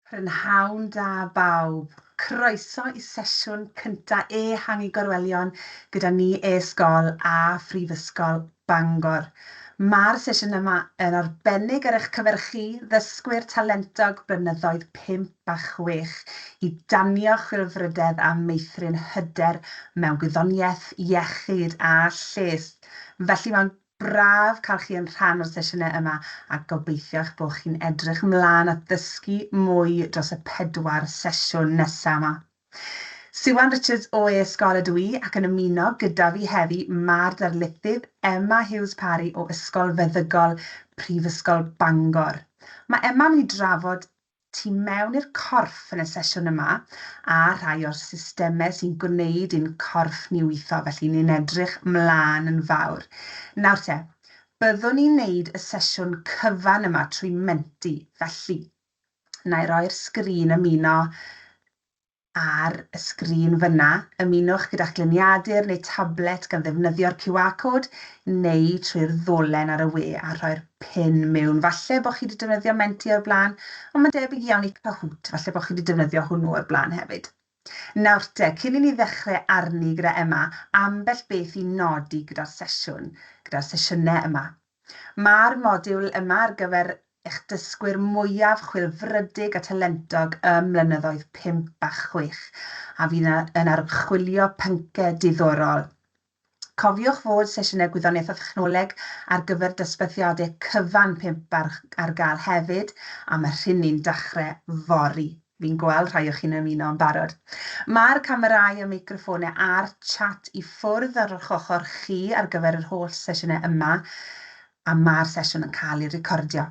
Prynhawn da bawb! Croeso i sesiwn cynta Ehangu Gorwelion gyda ni E-sgol a Phrifysgol Bangor. Mae'r sesiwn yma yn arbennig ar eich cyfer chi, ddysgwyr talentog blynyddoedd pump a chwech, i danio chwilfrydedd a meithrin hyder mewn gwyddoniaeth, iechyd a lles. Felly mae'n braf cael chi yn rhan o'r sesiynau yma a gobeithio eich bod chi'n edrych ymlaen at ddysgu mwy dros y pedwar sesiwn nesaf yma. Siwan Richards o E-ysgol ydw i ac yn ymuno gyda fi heddi ma'r darlithydd Emma Hughes Parry o Ysgol Feddygol Prifysgol Bangor. Mae Emma mynd i drafod tu mewn i'r corff yn y sesiwn yma a rhai o'r systemau sy'n gwneud i'n corff ni weithio, felly ni'n edrych 'mlaen yn fawr. Nawr te, byddwn ni'n neud y sesiwn cyfan yma trwy Menti, felly, na i roi'r sgrin ymuno Ar y sgrin fyna, ymunwch gyda'ch gliniadur neu tablet gan ddefnyddio'r QR code neu trwy'r ddolen ar y we a rhoi'r pin mewn. Falle bod chi wedi defnyddio Menti o'r blaen, ond mae'n debyg iawn i Kahoot, falle bod chi wedi defnyddio hwnnw o'r blaen hefyd. Nawr te, cyn i ni ddechrau arni gyda Emma, ambell beth i nodi gyda'r sesiwn, gyda'r sesiynau yma. Mae'r modiwl yma ar gyfer eich dysgwyr mwyaf chwilfrydig a talentog ym mlynyddoedd pump a chwech, a fydd yn archwilio pynciau diddorol. Cofiwch fod sesiynau Gwyddoniaeth a Thechnoleg ar gyfer dosbarthiadau cyfan pump ar gael hefyd, a mae rhini'n dechrau fory. Fi'n gweld rhai o chi'n ymuno yn barod. Mae'r camerâu a meicroffônau a'r chat i ffwrdd ar eich ochr chi ar gyfer yr holl sesiynau yma a mae'r sesiwn yn cael ei recordio.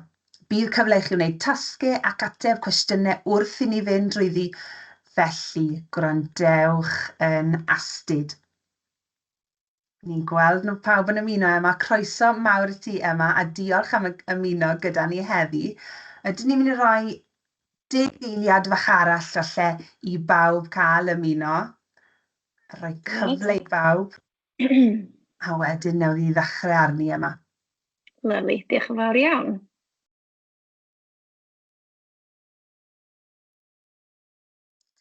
Bydd cyfle i chi wneud tasgau ac ateb cwestiynau wrth i ni fynd drwyddi, felly gwrandewch yn astud. Ni'n gweld nhw pawb yn ymuno Emma, croeso mawr i ti Emma a diolch am ymuno gyda ni heddi. Ydyn ni'n mynd i roi deg eiliad fach arall falle i bawb cael ymuno, rhoi cyfle i bawb a wedyn newn ni ddechrau arni Emma. Lyfli, diolch yn fawr iawn.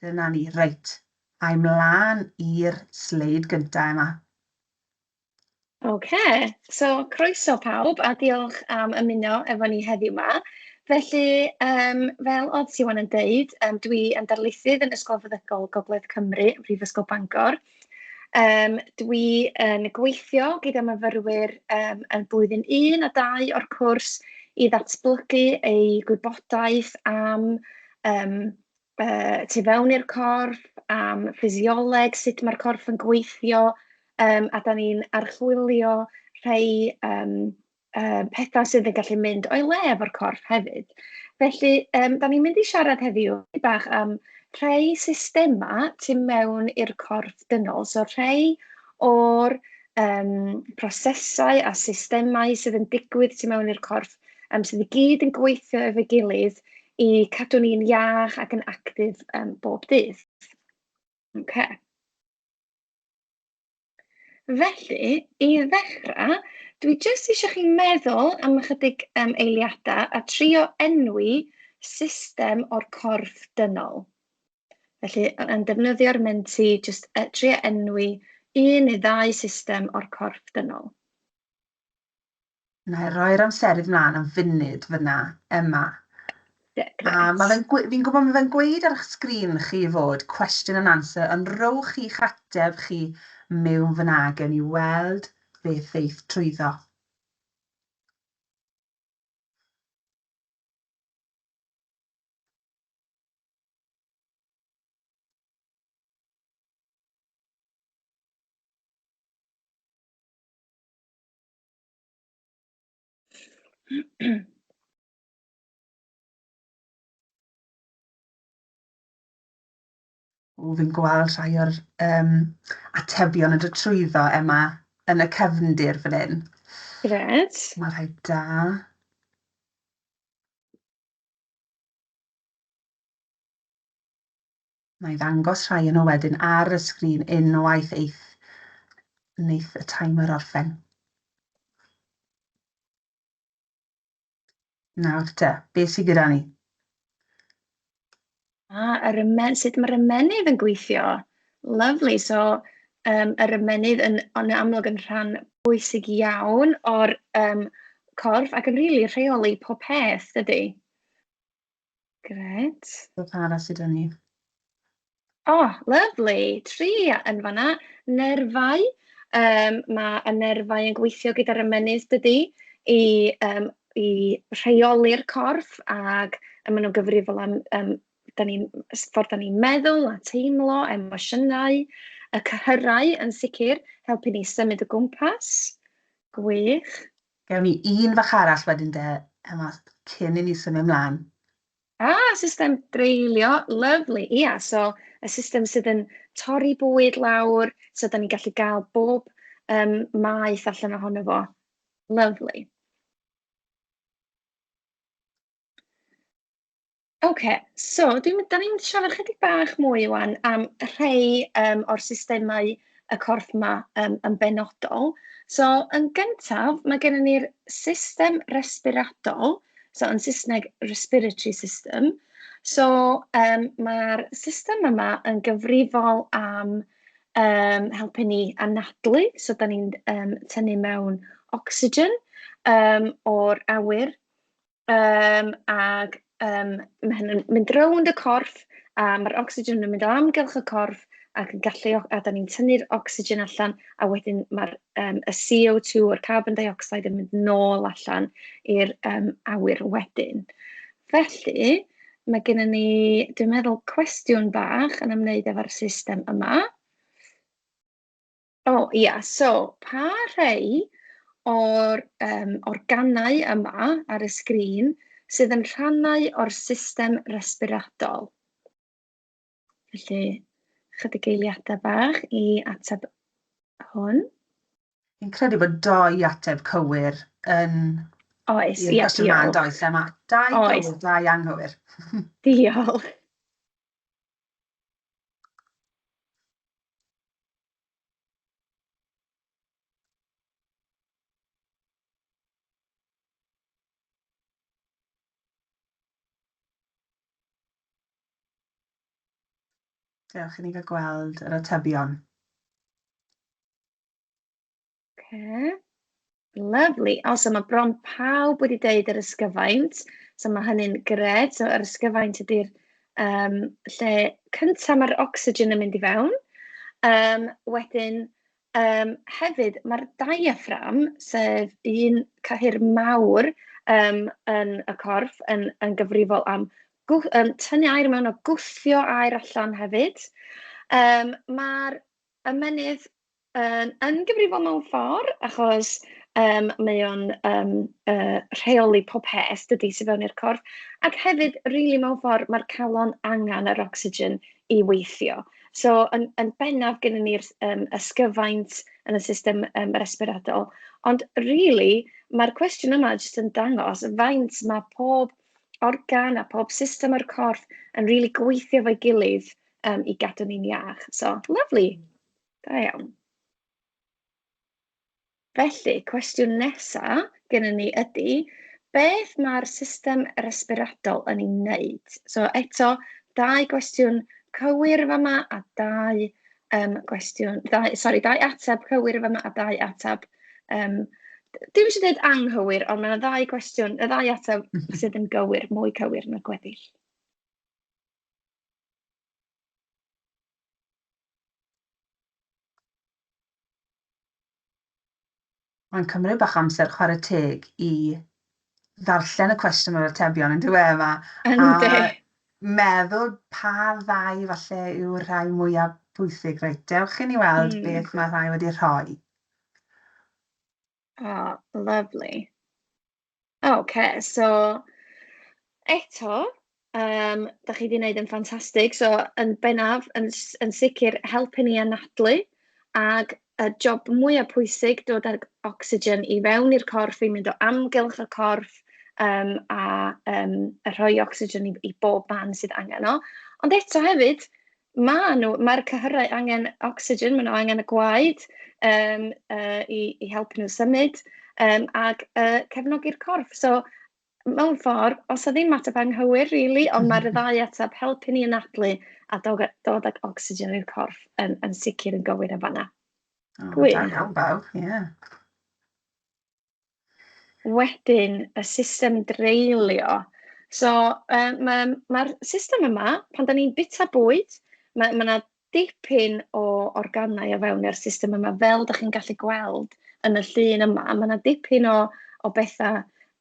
Dyna ni, reit. Ai mlaen i'r sleid gyntaf, Emma. Oce, so croeso pawb a diolch am ymuno efo ni heddiw 'ma. Felly, yym, fel oedd Siwan yn deud, yym, dwi yn darlithydd yn Ysgol Feddygol Gogledd Cymru, Prifysgol Bangor. Yym, dwi yn gweithio gyda myfyrwyr yym yn blwyddyn un a dau o'r cwrs i ddatblygu eu gwybodaeth am yym... yy tu fewn i'r corff, am ffisioleg, sut ma'r corff yn gweithio, yym a dan ni'n archwilio rhai yym yy petha sydd yn gallu mynd o'i le efo'r corff hefyd. Felly yym dan ni'n mynd i siarad heddiw dipyn bach am rhai systemau tu mewn i'r corff dynol, so rhai o'r yym prosesau a systemau sydd yn digwydd tu mewn i'r corff yym sydd i gyd yn gweithio efo'i gilydd i cadw ni'n iach ac yn actif yym bob dydd. Ocê. Felly, i ddechrau, dwi jyst eisiau chi meddwl am ychydig yym eiliadau a trio enwi system o'r corff dynol. Felly, yn defnyddio'r Menti, jyst yy trio enwi un neu ddau system o'r corff dynol. Na, roi'r amserydd mlaen am funud fyna, Emma. A mae fe'n, fi'n gwybod mae fe'n gweud ar eich sgrin chi fod question and answer, ond rowch i'ch ateb chi mewn fyna gen i weld fe theith trwyddo. O, fi'n gweld rhai o'r um, atebion yn dod trwyddo, Emma, yn y cefndir fan hyn. Gred. Mae rhai da. Wna i ddangos rhai yno wedyn ar y sgrin unwaith eith, wneith y timer orffen. Nawr te, be sydd gyda ni? A, yr ymen, sut mae'r ymenydd yn gweithio. Lovely, so um, yr ymenydd yn, yn amlwg yn rhan bwysig iawn o'r um, corff ac yn rili really rheoli pob peth, dydy? Gret. Beth arall sydd gen ni? O, oh, lyflu. Tri yn fanna. Nerfau. Um, mae y nerfau yn gweithio gyda'r ymennydd dydy i, um, i rheoli'r corff ac a maen nhw'n gyfrifol am um, da ni, ffordd da ni'n meddwl a teimlo, emosiynau, y cyhyrau yn sicr, helpu ni symud o gwmpas. Gwych. Gewn ni un fach arall wedyn de, Emma, cyn i ni symud ymlaen. Ah, system dreulio, lyfli, ia, so y system sydd yn torri bwyd lawr, so da ni'n gallu gael bob um, maeth allan ohono fo. Lyfli. Ocê, so dwi'n... dan ni'n mynd i siarad chydig bach mwy ŵan am rhai yym o'r systemau y corff 'ma yym yn benodol. So yn gyntaf, ma' gennyn ni'r system resbiradol, so yn Saesneg respiratory system. So yym ma'r system yma yn gyfrifol am yym helpu ni anadlu, so dan ni'n yym tynnu mewn ocsigen yym o'r awyr. Yym, ac yym ma' hyn yn mynd rownd y corff, a ma'r ocsigen yn mynd o amgylch y corff ac yn gallu... a dan ni'n tynnu'r ocsigen allan, a wedyn ma'r yym y CO2 a'r carbon dioxide yn mynd nôl allan i'r yym awyr wedyn. Felly, ma' gennyn ni, dwi'n meddwl, cwestiwn bach yn ymwneud efo'r system yma. O ia, so pa rhai o'r yym organau yma ar y sgrin sydd yn rhannau o'r system resbiratol? Felly, chydig eiliadau bach i ateb hwn. Fi'n credu bod dau ateb cywir yn... Oes, ia, diolch. ...i'r cwestiwn yma, yn does, Emma? Dau gywir, dau anghywir. Diolch. Dewch i ni gael gweld yr atebion. Okay. Lovely. O, so mae bron pawb wedi deud yr ysgyfaint, so mae hynny'n gred. So yr ysgyfaint ydy'r um, lle cyntaf mae'r ocsigen yn mynd i fewn. Um, wedyn, um, hefyd, mae'r diaphragm, sef un cyhyr mawr um, yn y corff, yn, yn gyfrifol am gwth, um, tynnu air mewn o gwthio air allan hefyd. Um, Mae'r ymenydd Yn yn gyfrifol mewn ffordd, achos yym mae o'n yym yy rheoli pob peth dydy sy fewn i'r corff. Ac hefyd rili mewn ffordd ma'r calon angen yr ocsigen i weithio. So yn yn bennaf gennyn ni'r s- yym ysgyfaint yn y system yym resbiradol. Ond rili ma'r cwestiwn yma jyst yn dangos faint ma' pob organ a pob system o'r corff yn rili gweithio efo'i gilydd yym i gadw ni'n iach. So lyfli. Da iawn. Felly, cwestiwn nesaf gennym ni ydy, beth mae'r system resbiradol yn ei wneud? So eto, dau gwestiwn cywir fama a dau um, gwestiwn, dau, sorry, dau ateb cywir fama a dau ateb um, Dim eisiau dweud anghywir, ond mae yna ddau gwestiwn, y ddau ateb sydd yn gywir, mwy cywir na'r gweddill. Mae'n cymryd bach amser chwarae teg i ddarllen y cwestiwn o'r atebion yn dywe yma. Yndi. A meddwl pa ddau falle yw'r rhai mwyaf bwysig. Reit, dewch i ni weld mm. beth mae rhai wedi rhoi. Oh, lovely. O ocê, so eto, yym, dach chi 'di wneud yn ffantastig. So yn bennaf, yn s- yn sicr helpu ni anadlu, ac y job mwya pwysig, dod ag ocsigen i fewn i'r corff, i mynd o amgylch y corff, yym, a yym a rhoi ocsigen i i bob man sydd angen o. Ond eto hefyd, Maen nhw, mae'r cyhyrau angen ocsigen, maen nhw angen y gwaed yym yy i i helpu nhw symud yym ac yy cefnogi'r corff. So mewn ffordd, os 'na ddim ateb anghywir rili, ond mae'r ddau ateb, helpu ni anadlu a dod dod ag ocsigen i'r corff yn yn sicr yn gywir yn fan'na. Gwych. Da iawn bawb, ie. Wedyn y system dreulio. So yy ma' ma'r system yma, pan 'dan ni'n bwyta bwyd, ma' ma' 'na dipyn o organau o fewn yr system yma, fel 'dach chi'n gallu gweld yn y llun yma, ma' 'na dipyn o o betha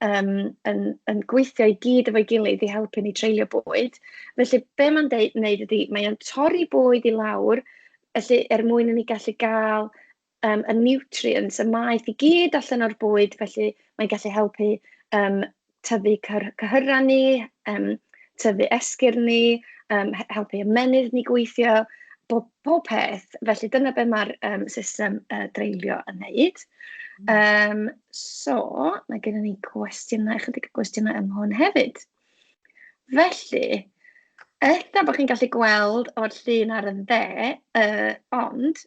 yym yn yn gweithio i gyd efo'i gilydd i helpu ni treulio bwyd. Felly be' ma'n deu- neud ydi mae o'n torri bwyd i lawr, felly er mwyn i ni gallu ga'l yym, y nutrients, y maeth i gyd allan o'r bwyd, felly mae'n gallu helpu yym tyfu cyr- cyhyrau ni, yym tyfu esgyrn ni, yym he- helpu ymennydd ni gweithio, bob pob peth. Felly dyna be ma'r yym system yy dreulio yn wneud. Yym so ma' gynnon ni gwestiynau, chydig o gwestiynau am hwn hefyd. Felly, ella bod chi'n gallu gweld o'r llun ar y dde, yy ond...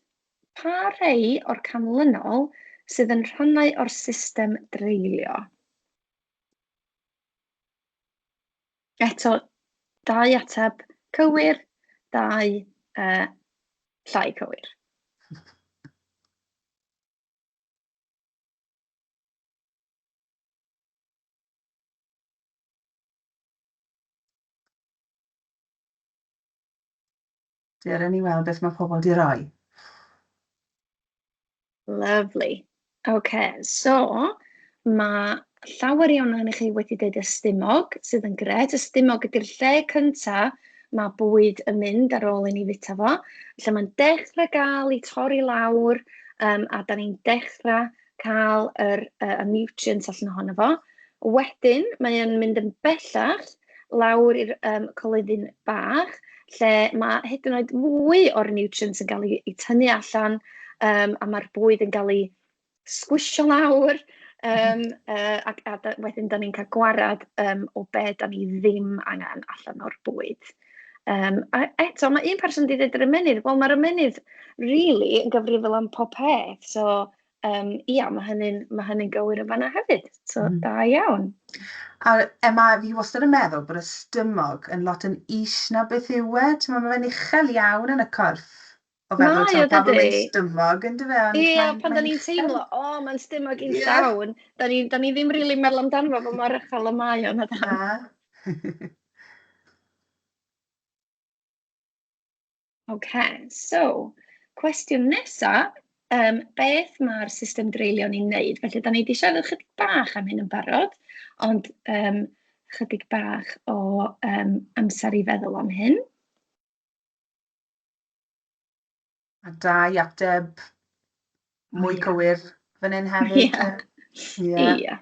Pa rhai o'r canlynol sydd yn rhannau o'r system dreulio? Eto, dau ateb cywir, dau uh, llai cywir. Dere ni weld beth mae pobl di roi. Lovely. OK, so mae llawer iawn ohonych chi wedi dweud ystumog, sydd yn gret. Ystumog ydy'r lle cyntaf mae bwyd yn mynd ar ôl i ni fita fo. Lle mae'n dechrau gael ei torri lawr um, a da ni'n dechrau cael yr, uh, y nutrients allan ohono fo. Wedyn, mae o'n mynd yn bellach lawr i'r um, coleddyn bach, lle mae hyd yn oed fwy o'r nutrients yn cael ei, ei tynnu allan, um, a mae'r bwyd yn cael ei sgwisio lawr, um, uh, a, a da, wedyn da ni'n cael gwarad um, o be da ni ddim angen allan o'r bwyd. Um, a eto, mae un person wedi dweud yr ymenydd, wel mae'r ymenydd really yn gyfrifol am pob peth. So, um, ia, mae hynny'n ma hynny gywir yn fanna hefyd. So, mm. da iawn. A Emma, fi wastad yn meddwl bod y stymog yn lot yn is na beth yw e. Ti'n meddwl, mae fe'n uchel iawn yn y corff. O feddwl... Mae o dydi? ...tibod pan mae'n stumog yndyfe ond mae'n... Ie pan dan ni'n teimlo o mae'n stumog i'n llawn dan ni dan ni ddim rili'n meddwl amdano fo fel mor uchel y mae o na dan? Na. Ok so cwestiwn nesa yym beth ma'r system dreulio ni'n neud? Felly dan ni di siarad ychydig bach am hyn yn barod ond yym ychydig bach o yym amser i feddwl am hyn. A dau ateb mwy yeah. cywir fan hyn hefyd. Yeah. Yeah. yeah.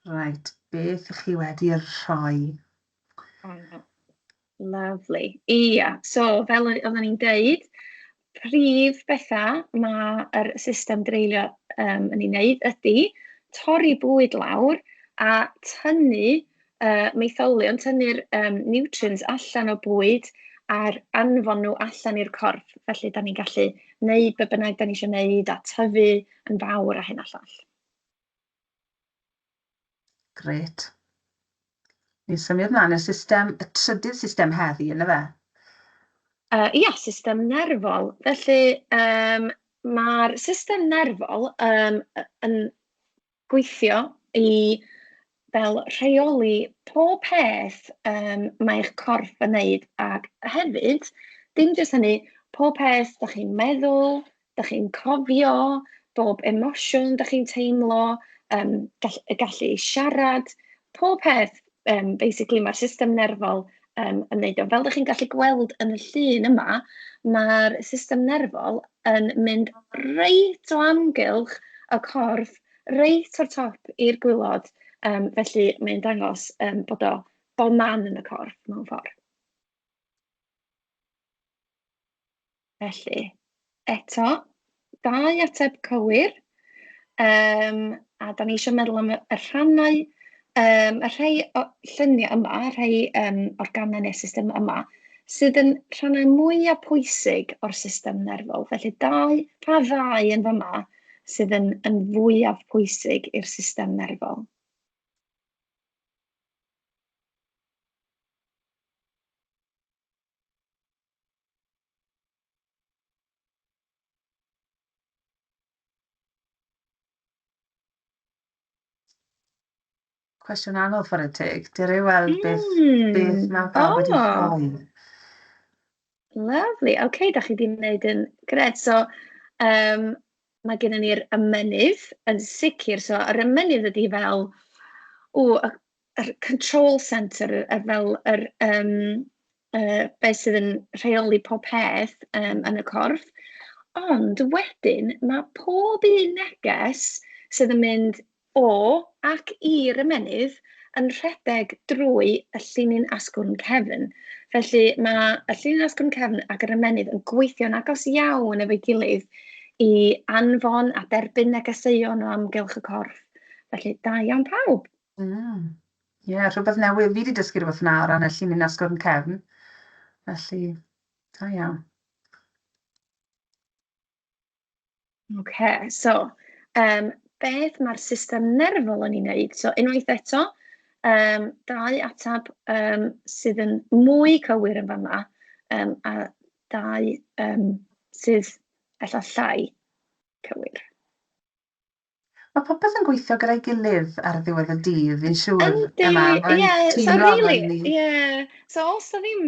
Reit, beth ych chi wedi rhoi? Ah, lovely. Ia, so fel oedden ni'n deud, prif bethau mae'r system dreulio um, yn ei wneud ydy torri bwyd lawr a tynnu uh, maetholion tynnu'r um, nutrients allan o bwyd a'r anfon nhw allan i'r corff. Felly, da ni'n gallu wneud be bynnag da ni eisiau wneud a tyfu yn fawr a hyn a llall. Gret. Ni'n symud mlaen y system, y trydydd system heddi, yna fe? Uh, ia, system nerfol. Felly, um, mae'r system nerfol um, yn gweithio i fel rheoli pob peth yym mae eich corff yn wneud, ac hefyd dim jyst hynny, pob peth dach chi'n meddwl, dach chi'n cofio, bob emosiwn dach chi'n teimlo, yym gall- y gallu i siarad, pob peth. Yym, basically ma'r system nerfol yym yn wneud o. Fel dach chi'n gallu gweld yn y llun yma, ma'r system nerfol yn mynd reit o amgylch y corff, reit o'r top i'r gwaelod, yym felly mae'n dangos yym bod o bob man yn y corff mewn ffordd. Felly, eto, dau ateb cywir, yym a dan ni isio meddwl am y rhannau yym y rhei o lluniau yma, y rhei yym o'r gamau neu'r system yma sydd yn rhannau mwya pwysig o'r system nerfol. Felly dau... pa ddau yn fama sydd yn yn fwyaf pwysig i'r system nerfol? Cwestiwn anodd chwarae teg. Dwi rili weld beth... mm. ...beth mae bawb wedi oh. rhoi. Lovely. OK, okay, da chi wedi gwneud yn gred. So, um, mae gennym ni'r ymenydd yn sicr. So, yr ymenydd ydy fel, o, yr control centre yy fel yr yym yy be sydd yn rheoli pob peth yym yn y corff. Ond wedyn ma' pob un neges sydd yn mynd o ac i'r ymennydd yn rhedeg drwy y llinyn asgwrn cefn. Felly ma' y llinyn asgwrn cefn ac yr ymennydd yn gweithio'n agos iawn efo'i gilydd i anfon a derbyn negeseuon o amgylch y corff. Felly da iawn pawb. Mm. Ie, yeah, rhywbeth newydd. Fi wedi dysgu rhywbeth yna o ran y llinyn asgwrn cefn. Felly, da iawn. OK, so, um, beth mae'r system nerfol yn ei wneud? So, unwaith eto, um, dau atab um, sydd yn mwy cywir yn fama, um, a dau um, sydd efallai cywir. Mae popeth yn gweithio gyda'i gilydd ar ddiwedd y dydd, fi'n siŵr. Yndi, ie, so really, ie. So os da ddim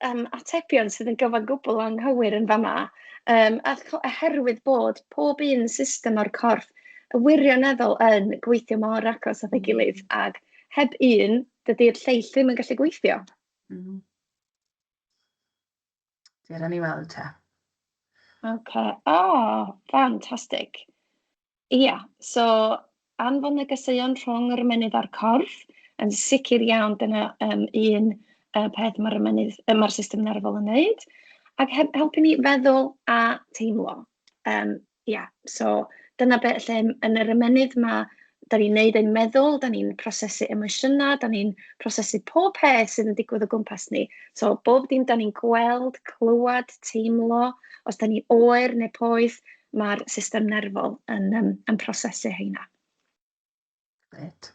um, atebion sydd yn gyfan gwbl anghywir yn fama, um, oherwydd bod pob un system o'r corff y wirioneddol yn gweithio mor agos at ei gilydd, mm. ac heb un, dydy'r lleill ddim yn gallu gweithio. Mm. Dwi ran i weld te. Ok, o, fantastig. Ia, so anfon negeseuon rhwng yr ymennydd a'r corff, yn sicr iawn dyna yym un yy peth ma'r ymennydd yy ma'r system nerfol yn wneud, ac he- helpu ni feddwl a teimlo. Yym Ia, so dyna be... lle yn yr ymennydd ma' dan ni'n wneud ein meddwl, dan ni'n prosesu emosiynau, dan ni'n prosesu pob peth sydd yn digwydd o gwmpas ni. So bob dim dan ni'n gweld, clywed, teimlo, os dan ni oer neu poeth, ma'r system nerfol yn yym yn prosesu heina. Grêt.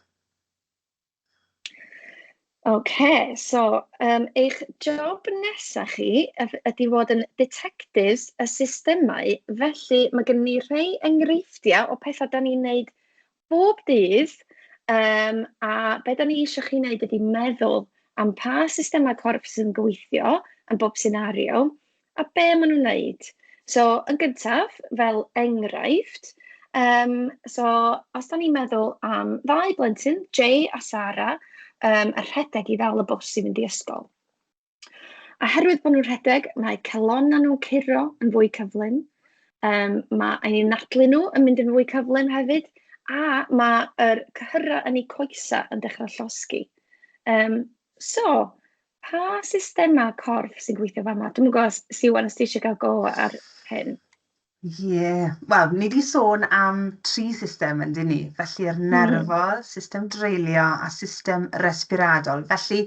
OK, so um, eich job nesaf chi ydy fod yn detectives y systemau, felly mae gen ni rhai enghreifftiau o pethau da ni'n neud bob dydd, um, a beth da ni eisiau chi wneud ydy meddwl am pa systemau corff sy'n gweithio yn bob senario, a be maen nhw'n wneud. So, yn gyntaf, fel enghraifft, yym, so os dan ni'n meddwl am ddau blentyn, Jay a Sara, yym, yn rhedeg i ddal y bws i fynd i ysgol. A herwydd bod nhw'n rhedeg, mae calonnau nhw'n curo yn fwy cyflym, yym, mae eu nadlu nhw yn mynd yn fwy cyflym hefyd, a mae'r cyhyrau yn eu coesau yn dechrau llosgi. Yym, so, Pa systemau corff sy'n gweithio fama? Dwi'n gwybod os Siwan os ti eisiau cael go ar hyn. Ie, yeah. wel, ni wedi sôn am tri system yn dyn ni, felly'r hmm. nerfol, mm. system dreulio a system respiradol. Felly,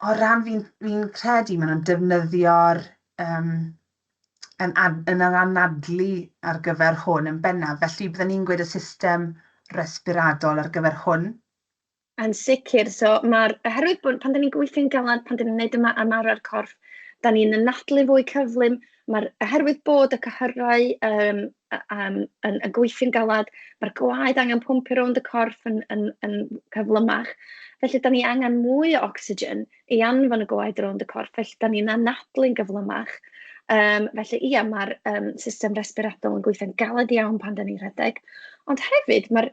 o ran fi'n fi credu maen nhw'n defnyddio'r um, yn, ad, yn yr anadlu ar gyfer hwn yn bennaf. Felly, byddwn ni'n gweud y system respiradol ar gyfer hwn. Yn sicr, so ma'r... oherwydd bod... pan dan ni'n gweithio'n galed, pan dan ni'n wneud yma ymarfer corff, dan ni'n anadlu fwy cyflym, ma'r... oherwydd bod y cyhyrau yym a- am- yn yn gweithio'n galed, ma'r gwaed angen pwmpio rownd y corff yn yn yn gyflymach, felly dan ni angen mwy o ocsigen i anfon y gwaed rownd y corff, felly dan ni'n anadlu'n gyflymach. Yym felly ia, ma'r yym system resbiradol yn gweithio'n galed iawn pan dan ni'n rhedeg, ond hefyd ma'r...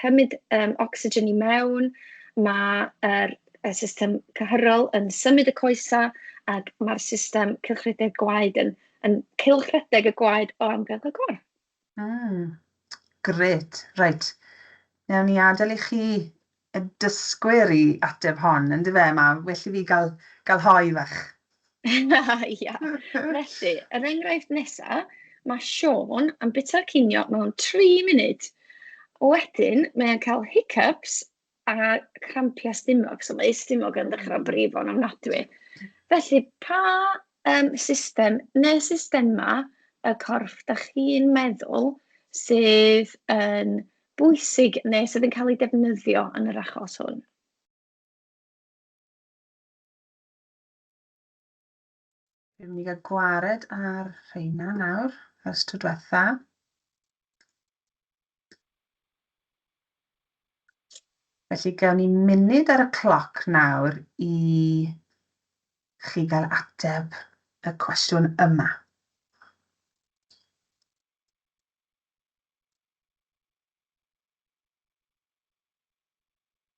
cymryd yym ocsigen i mewn, ma' yr y system cyhyrol yn symud y coesau, ac ma'r system cylchredeg gwaed yn yn cylchredeg y gwaed o amgylch y corff. Mm, grêt. Reit, wnawn ni adael i chi y dysgwyr i ateb hon, yndyfe, mae well i fi gael gael hoe fach. Ia, felly, yr enghraifft nesa, ma' Siôn yn byta cinio mewn tri munud, wedyn mae o'n cael hiccups a crampiau stumog, so mae ei stumog yn dechrau brifo'n ofnadwy. Felly, pa yym system neu systemau y corff dach chi'n meddwl sydd yn bwysig neu sydd yn cael eu defnyddio yn yr achos hwn? Dwi'n mynd i gael gwared ar rheina nawr, ers tro diwetha. Felly, gawn ni munud ar y cloc nawr i chi gael ateb y cwestiwn yma.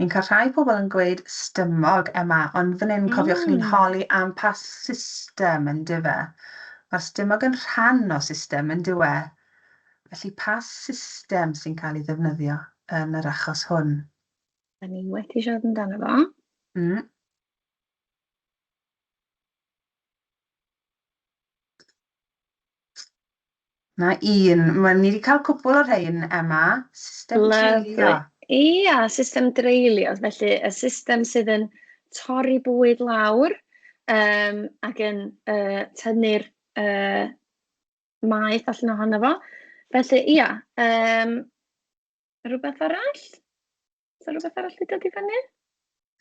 Ni'n cael rhai pobl yn gweud stymog, Emma, ond fan hyn cofiwch ni'n hmm. holi am pa system yn dyfe. Mae'r stymog yn rhan o system yn dywe. Felly pa system sy'n cael ei ddefnyddio yn yr achos hwn? Da ni wedi siarad amdano fo. Mm. Na un. Wel, ni wedi cael cwpl o rhein, Emma. System dreulio. Ia, system dreulio. Felly, y system sydd yn torri bwyd lawr um, ac yn uh, tynnu'r uh, maeth allan ohono fo. Felly, ia, um, rhywbeth arall? Oes 'na rywbeth arall 'di dod i fyny?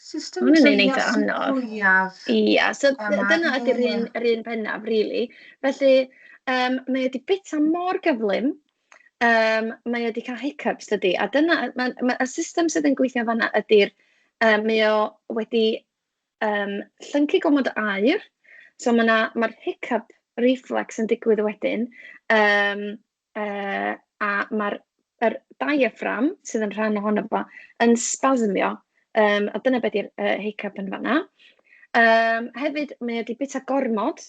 System Hwn yn un eitha anodd. Fwyaf. Ia, so dyna ydy'r un, yr un bennaf, really. Felly, um, mae wedi bita mor gyflym, um, mae wedi cael hiccups dydy, a dyna, mae, mae y system sydd yn gweithio fanna ydy'r, um, mae o wedi um, llyncu gomod o air, so mae'r ma hiccup reflex yn digwydd wedyn, um, yy a ma'r yr diaphragm sydd yn rhan ohono fo yn spasmio, yym a dyna be 'di'r yy hiccup yn fan'na. Yym hefyd mae o 'di byta gormod,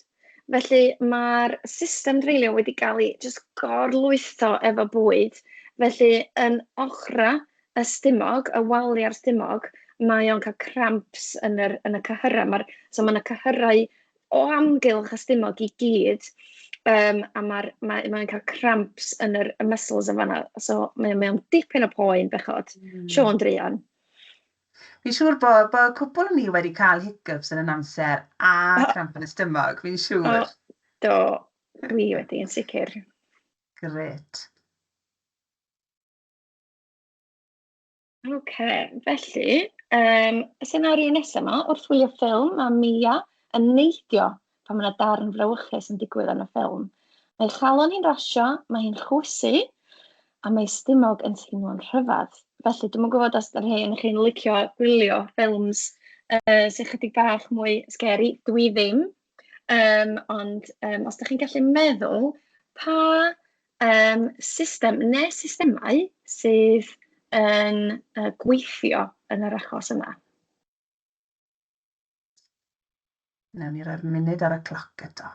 felly ma'r system dreulio wedi gael ei jyst gor-lwytho efo bwyd, felly yn ochrau y stumog, y waliau'r stumog, mae o'n cael cramps yn yr yn y cyhyrau, ma'r... so ma' 'na cyhyrau o amgylch y stumog i gyd, yym, a ma'r ma' mae'n cael cramps yn yr y muscles yn fan'na, so mae o mae o'n dipyn o poen bechod. Mm. Siôn druan. Fi'n siŵr bo' bo' cwpwl o ni wedi cael hiccups yn y amser a oh. cramp yn y stumog, fi'n siŵr. Oh, do, dwi wedi, yn sicr. Gret. Ok, felly, um, y senario nesaf yma, wrth wylio ffilm mae Mia yn neidio pan mae yna darn frawychus yn digwydd yn y ffilm. Mae chalon hi'n rasio, mae hi'n chwysu, a mae stumog yn teimlo'n rhyfedd. Felly, dwi'n gwybod os ydych chi yn chi'n licio gwylio ffilms uh, sy'n chydig bach mwy scary, dwi ddim. Um, ond um, os ydych chi'n gallu meddwl pa Yym system neu systemau sydd yn yy gweithio yn yr achos yma? Wnawn ni roi'r munud ar y cloc eto.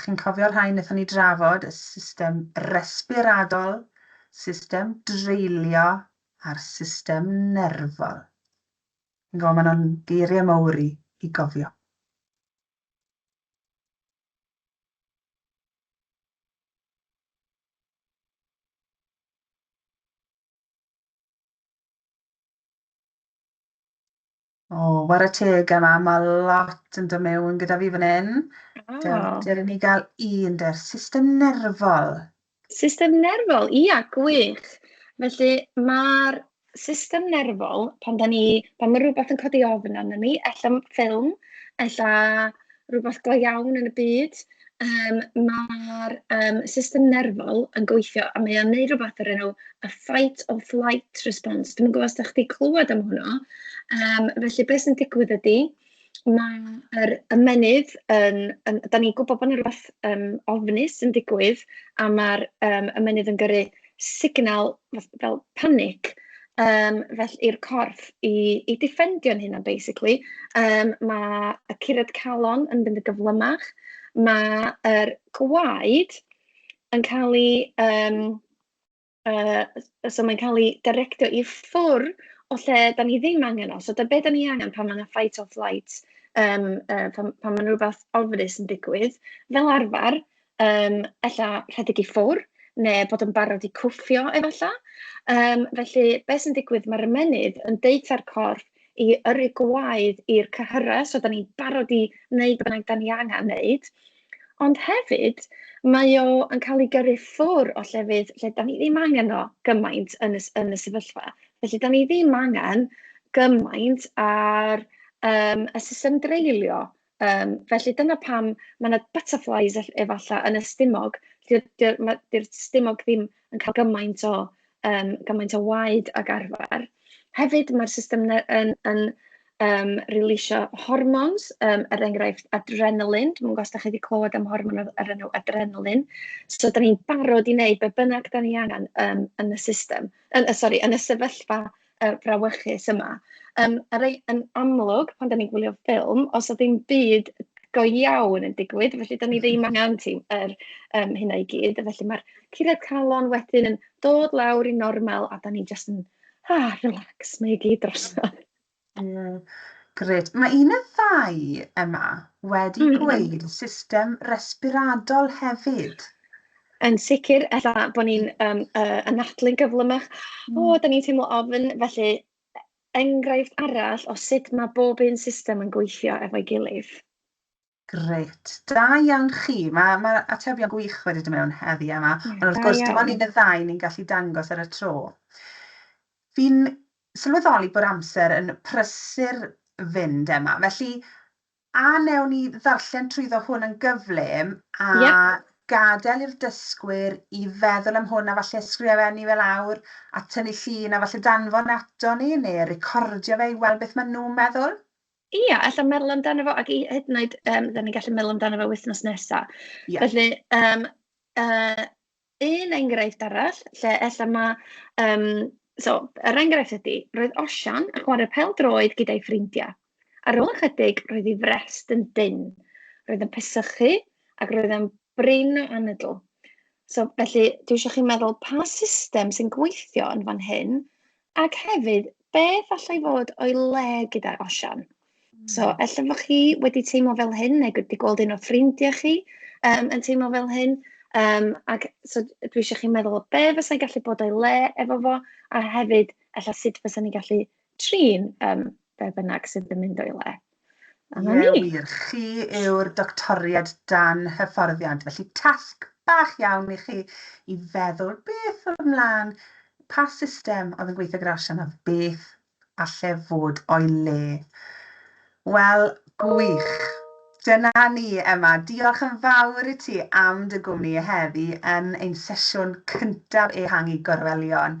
Chi'n cofio'r rhain wnaethon ni drafod, y system respiradol, system dreulio a'r system nerfol. Fi'n gwybod maen nhw'n geiriau mawr i, i gofio. O, ware teg yna, mae lot yn dod mewn gyda fi fan hyn. Oh. Dewr, dewr i ni gael un der, system nerfol. System nerfol, ia, gwych. Felly mae'r system nerfol, pan da ni, pan mae rhywbeth yn codi ofn arno ni, ella ffilm, ella rhywbeth go iawn yn y byd, yym ma'r yym system nerfol yn gweithio a mae o'n wneud rywbeth o'r enw y fight or flight response. Dwi'm yn gwybod os dach chi 'di clywed am hwnna, yym felly be sy'n digwydd ydy, ma'r ymennydd yn yn... dan ni'n gwybod bod 'na rywbeth yym ofnus yn digwydd a ma'r yym ymennydd yn gyrru... signal fel panig yym felly i'r corff i i ddefendio'n hunan basically. Yym ma' y curad calon yn mynd yn gyflymach, ma' yr gwaed yn cael ei yym yy so mae'n cael ei directio i ffwrdd o lle dan ni ddim angen o. So be dan ni angen pan mae 'na fight or flight yym yy pan pan ma' 'na rywbeth ofnus yn digwydd fel arfer Yym, ella rhedeg i ffwr', neu bod yn barod i cwffio efallai. Yym, felly be sy'n digwydd, mae'r ymennydd yn deutha'r corff i yrru gwaed i'r cyhyrau, so dan ni'n barod i wneud be bynnag dan ni angen wneud. Ond hefyd, mae o yn cael ei gyrru ffwr' o llefydd lle dan ni ddim angen o gymaint yn y s- yn y sefyllfa. Felly, dan ni ddim angen gymaint ar yym y system dreulio. Yym, felly dyna pam mae 'na butterflies ell- efallai yn y stumog, lle 'di o... ma'... 'di'r stumog ddim yn cael gymaint o yym gymaint o waed ag arfer. Hefyd mae'r system ne- yn yn yym releasio hormons, yym er enghraifft adrenaline, dwi'm yn gwybod os dach chi 'di clywed am hormon o'r o'r enw adrenaline, so dan ni'n barod i wneud be bynnag dan ni angen yym yn y system, yn y sori, yn y sefyllfa yy frawychus yma. Yym a rei- yn amlwg pan 'dan ni'n gwylio ffilm, os na ddim byd go iawn yn digwydd, felly 'dan ni ddim angen ti yr yym hynna i gyd, a felly ma'r curiad calon wedyn yn dod lawr i normal a 'dan ni jyst yn ah relax, mae i gyd drosodd. Mm, grêt. Mae un y ddau yma wedi mm. gweud system respiradol hefyd. Yn sicr, ella bod ni'n yym yy anadlu'n gyflymach, "o dan ni'n teimlo ofn". Felly, enghraifft arall o sut mae bob un system yn gweithio efo'i gilydd. Grêt, da iawn chi. Mae mae'r atebion gwych wedi dod mewn heddi Emma, ond wrth gwrs dim ond un neu ddau ni'n gallu dangos ar y tro. Fi'n sylweddoli bod amser yn prysur fynd Emma, felly A wnewn ni ddarllen trwyddo hwn yn gyflym a gadael i'r dysgwyr i feddwl am hwn a falle ysgrifennu fe lawr a tynnu llun a falle danfon e ato ni neu recordio fe i weld beth maen nhw'n meddwl? Ia, ella meddwl amdano fo ac i hyd yn oed, yym, dan ni'n gallu meddwl amdano fo wythnos nesa. Felly, yym yy... Un enghraifft arall lle ella mae yym... so, yr enghraifft ydy, roedd Osian yn chwarae pêl-droed gyda'i ffrindiau. Ar ôl ychydig, roedd ei frest yn dynn, roedd yn pesychu ac roedd e'n brin o anadl. So, felly, dwi eisiau chi meddwl pa system sy'n gweithio yn fan hyn Ac hefyd, beth allai fod o'i le gyda Osian? Mm. So, hmm. ella bod chi wedi teimlo fel hyn, neu wedi gweld un o ffrindiau chi um, yn teimlo fel hyn, um, ac so, dwi eisiau chi meddwl o be fysa'n gallu bod o'i le efo fo, a hefyd, ella sut fysa'n ni gallu trin um, be bynnag sydd yn mynd o'i le. A 'na ni. Ie wir, chi yw'r doctoriad dan hyfforddiant, felly tasg bach iawn i chi i feddwl beth oedd ymlaen, pa system oedd yn gweithio gyda'r Asian a beth alle fod o'i le. Wel, gwych. Dyna ni, Emma. Diolch yn fawr i ti am dy gwmni heddi yn ein sesiwn cyntaf ehangu gorwelion.